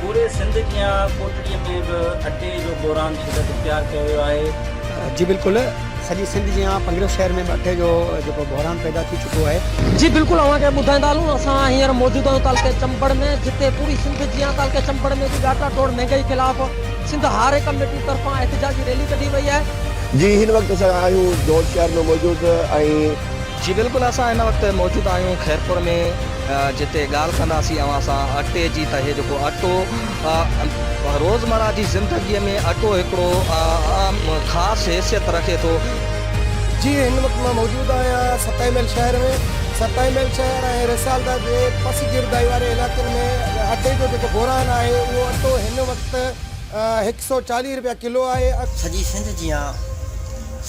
پوري سنڌ جيان ڪوٽڙي ۾ به اٽي جو بحران شدت اختيار ڪيو ويو آهي. جي بلڪل سڄي سنڌ جيان پنگريو شهر ۾ به اٽي جو جيڪو بحران پيدا ٿي چڪو آهي. جي بلڪل اوهان کي ٻڌائيندا هلون اسان هينئر موجود آهيون تعلقي چمبڙ ۾ جتي پوري سنڌ جيان تعلقي چمبڙ ۾ به ڳاٽا ٽوڙ مهنگائي خلاف سنڌ هاري ڪميٽي طرفان احتجاجي ريلي ڪڍي وئي آهي. جي هن وقت اسان آهيون دور شهر ۾ موجود ۽. جي بلڪل اسان هن وقت موجود آهيون خيرپور ۾ جتي ڳالهه ڪنداسين اوهان سان اٽي جي ته هي جيڪو اٽو روزمرا جي زندگي ۾ اٽو هڪڙو اهم خاص حيثيت رکي ٿو. جي هن وقت مان موجود آهيان ستائي محل شهر ۾ ستائي محل شهر ۽ رسالدار جي پس گردائي واري علائقن ۾ اٽي جو جيڪو بحران آهي اهو اٽو هن وقت هڪ سئو چاليهه رپيا ڪلو آهي. سڄي سنڌ جيان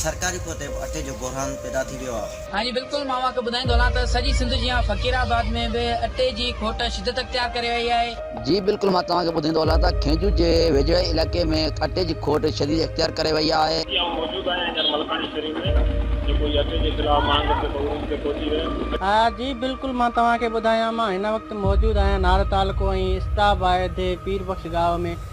سرڪاري پوتي به اٽي جو بحران پيدا ڏيو آ. ها جي بلڪل مان اوهان کي ٻڌائيندو هلان ته سڄي سنڌ جيان فقير آباد ۾ به اٽي جي کوٽ شدت اختيار ڪري وئي آهي. جي بلڪل مان توهان کي ٻڌائيندو هلان ته کينجو جي ويجهڙائي علائقي ۾ اٽي جي کوٽ شديد اختيار ڪري وئي آهي. جي آئون موجود آهيان هينئر ملڪاڻي شريف ۾ جيڪو هي اٽي جي خلاف مهانگڙ جي بحروم تي پهچي ويو. ها جي بلڪل مان توهان کي ٻڌايان مان هن وقت موجود آهيان نارو تعلقو ۽ اسٽاباهه دي پير بخش ڳاهه ۾